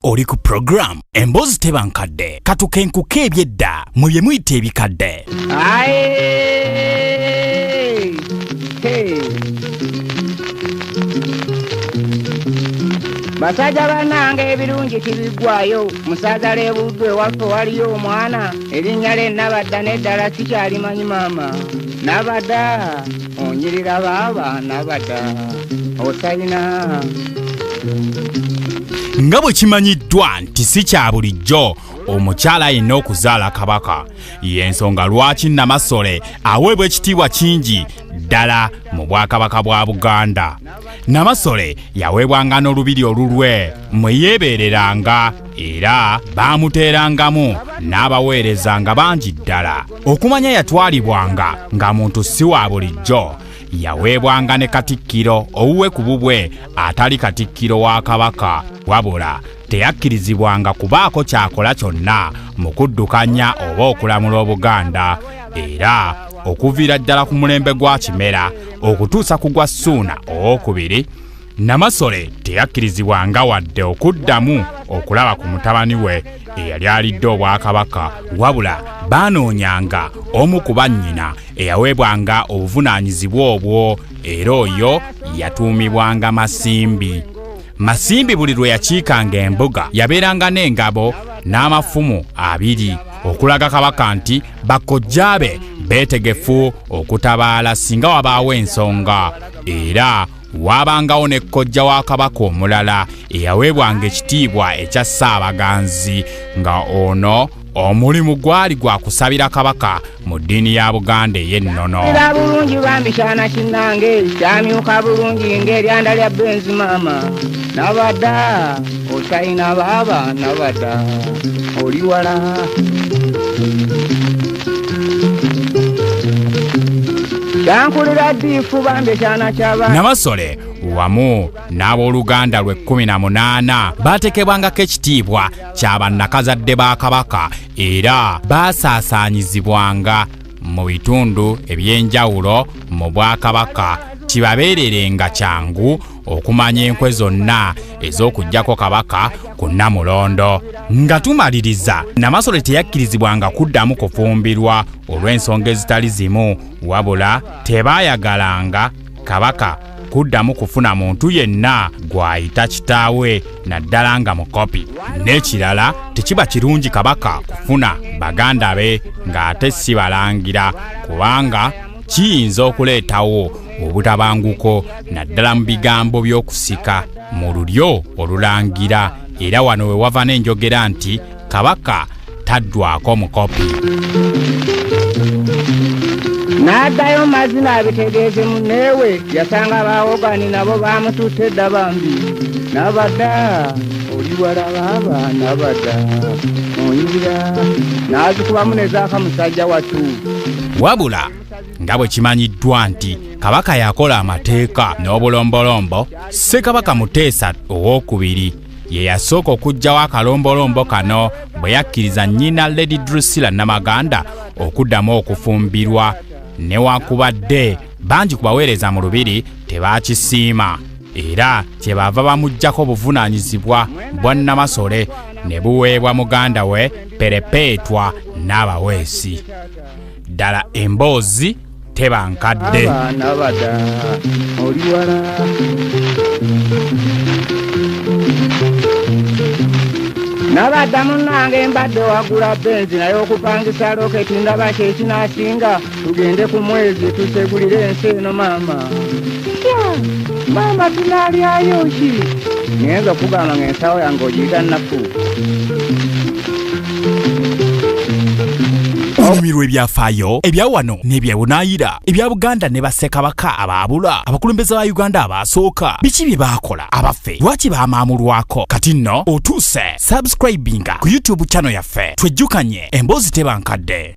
oli ku puroguramu emboozi teba nkadde katuka enkuka ebyedda mwe bye muyita ebikadde basajja bananga ebirungi tibiggwayo musaza lebuudu ewaffe waliyo omwana erinnya lye nabadda n'eddala sikyalimanyi maama nabadda onyirira baabaana bata otalina nga bwe kimanyiddwa nti si kya bulijjo omukyala alina okuzaala kabaka y'ensonga lwaki namasole aweebwa ekitiibwa kingi ddala mu bwakabaka bwa buganda namasole yaweebwanga n'olubiri olulwe mwe yeebeereranga era baamuteerangamu n'abaweereza nga bangi ddala okumanya yatwalibwanga nga muntu si wa bulijjo yaweebwanga ne katikkiro owuwe ku bubwe atali katikkiro wa kabaka wabula teyakkirizibwanga kubaako kyakola kyonna mu kuddukanya oba okulamula obuganda era okuviira ddala ku mulembe gwa kimera okutuusa ku gwa suuna owokubiri Namasole teyakkirizibwa nga wadde okuddamu okulaba ku mutabani we eyali alidde obwakabaka wabula baanoonyanga omu ku bannyina eyaweebwanga obuvunaanyizibwa obwo era oyo yatuumibwanga masimbi masimbi buli lwe yakiikanga embuga yabeeranga n'engabo n'amafumu abiri okulaga kabaka nti bakojja be beetegefu okutabaala singa wabaawo ensonga era waabangawo ne kkojja wa kabaka omulala eyaweebwanga ekitiibwa ekya ssaabaganzi nga ono omulimu gwali gwa kusabira kabaka mu ddiini ya buganda ey'ennono bulungi bambi kyana kinnange kyamyuka bulungi ng'eryanda lya benzi maama nabadda okyalina baaba nabadda oli wala kyankulira ddiifu bambi ekyana kyaba nabasole wamu n'abooluganda lwe kkumi na munaana baatekebwangako ekitiibwa kya bannakazadde ba kabaka era baasaasaanyizibwanga mu bitundu eby'enjawulo mu bwakabaka kibabeererenga kyangu okumanya enkwe zonna ez'okugyako kabaka ku namulondo nga tumaliriza namasole teyakkirizibwanga kuddamu kufumbirwa olw'ensonga ezitali zimu wabula tebaayagalanga kabaka kuddamu kufuna muntu yenna gw'ayita kitaawe naddala nga mukopi n'ekirala tekiba kirungi kabaka kufuna baganda be ng'ate si balangira kubanga kiyinza okuleetawo obutabanguko naddala mu bigambo by'okusika mu lulyo olulangira era wano we wava n'enjogera nti kabaka taddwako mukopi n'addayo mazina abitegeeze mu neewe yasanga baawogani nabo baamututte dda bambi nabadda oli walaba abaana badda muyira n'azikubamu ne zaaka musajja watu wabula nga bwe kimanyiddwa nti kabaka yakola amateeka n'obulombolombo ssekabaka muteesa ow'okubiri ye yasooka okuggyawo akalombolombo kano bwe yakkiriza nnyina lady drusilla namaganda okuddamu okufumbirwa newankubadde bangi ku baweereza mu lubiri tebaakisiima era kyebaava bamuggyako obuvunaanyizibwa bwa nnamasole ne buweebwa muganda we perepeetwa n'abaweesi ddala emboozi teba nkadde nabadda munange mbadde wagula benzi naye okupangisa loketi ndaba kyekinasinga tugende ku mwezi tusegulire ensi eno maama maama tunalyayo ki ngenza okugamba ngaensawo yange ogiga nnaku onyumirwa ebyafaayo ebya wano n'ebyebunaayira ebya buganda ne bassekabaka abaabula abakulembeze ba uganda abaasooka biki bye baakola abaffe lwaki baamaamulwako kati nno otuuse subscribinga ku youtube channel yaffe twejjukanye emboozi teba nkadde